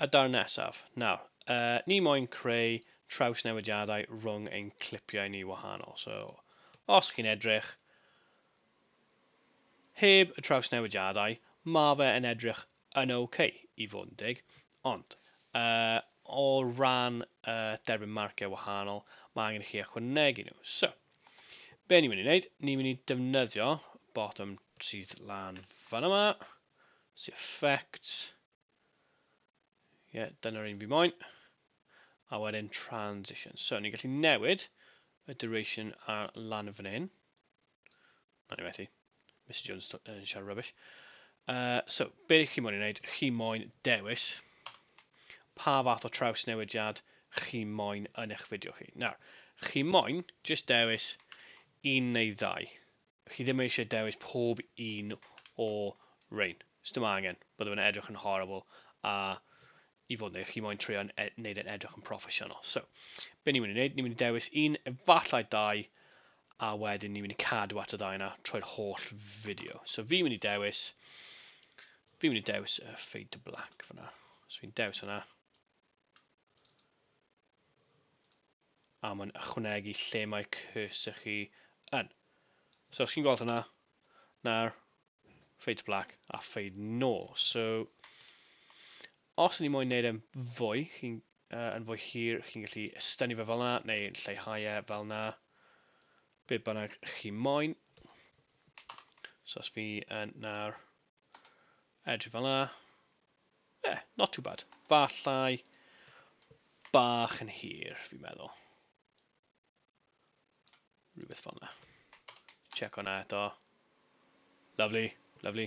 A daw'r nesaf. Nawr, uh, ni moyn creu traws newidiadau rhwng ein clipiau ni wahanol. So, os chi'n edrych, heb y traws newidiadau, mae fe yn edrych yn oce okay, i fod yn dig. Ond, uh, o ran uh, derbyn marciau wahanol, mae angen i chi ychwanegu nhw. So, Be ni'n mynd i wneud? Ni'n mynd i defnyddio bottom sydd lan fan yma. See effect. Ie, yeah, dyna'r un fi moyn. A wedyn transition. So, ni'n gallu newid y duration ar lan fan hyn. O'n i methu. Mr Jones yn uh, siarad rubbish. Uh, so, be chi moyn i wneud? Chi moyn dewis pa fath o traws newidiad chi moyn yn eich fideo chi. Nawr, chi moyn jyst dewis un neu ddau. Chi ddim eisiau dewis pob un o rein. Ys dim angen, byddwn yn edrych yn horrible a i fod yn chi moyn trio wneud yn edrych yn proffesiynol. So, be ni'n mynd i wneud? Ni'n mynd i dewis un, efallai dau, a wedyn ni'n mynd i cadw at y ddau yna trwy'r holl fideo. So, fi'n mynd i dewis, fi'n mynd i dewis uh, fade to black fyna. So, fi'n dewis yna. A mae'n ychwanegu lle mae cursor chi yn. So, chi'n gweld hwnna? Nawr, fade black a fade nôl. So, os ni moyn neud e'n fwy, chi'n uh, yn fwy hir, chi'n gallu estynu fe fel yna, neu lleihau e fel yna, be bynnag chi moyn. So os fi yn nawr edrych fel yna, yeah, not too bad. Fallai bach yn hir, fi'n meddwl. Rhywbeth fel yna. Check hwnna eto. Lovely, lovely.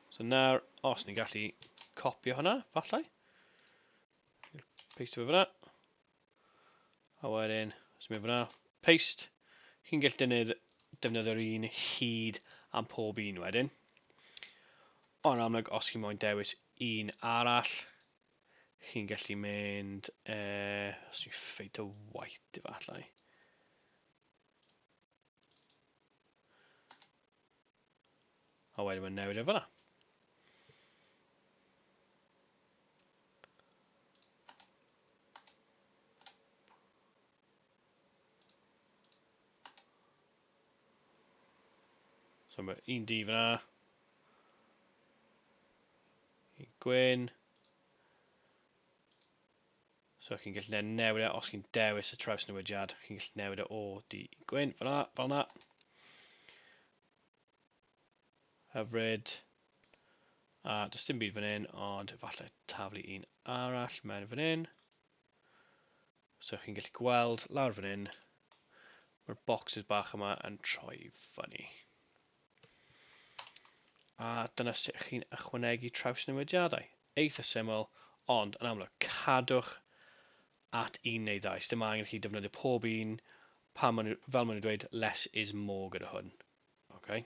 So nawr, os ni'n gallu copio hwnna, falle. Paste fe fyna. A wedyn, os ni'n fyna, paste. Chi'n gallu dynnu'r defnyddio'r un hyd am pob un wedyn. Ond amlwg, os chi'n moyn dewis un arall, chi'n gallu mynd, uh, os dwi'n ffeit o white efallai. A wedyn mae'n newid e fyna. So mae un di fyna. Un gwyn. So chi'n gallu ne newid e os chi'n dewis y traws newidiad. Chi'n gallu newid e o di gwyn fyna, fel yna. Hyfryd. A does dim byd fan hyn, ond efallai taflu un arall mewn fan hyn. So chi'n gallu gweld lawr fan hyn, mae'r boxes bach yma yn troi fyny. A dyna sut chi'n ychwanegu traws newidiadau. Eitha syml, ond yn amlwg, cadwch at un neu ddau. Dim angen chi defnyddio pob un, pa man, fel maen nhw'n dweud, less is more gyda hwn. Okay.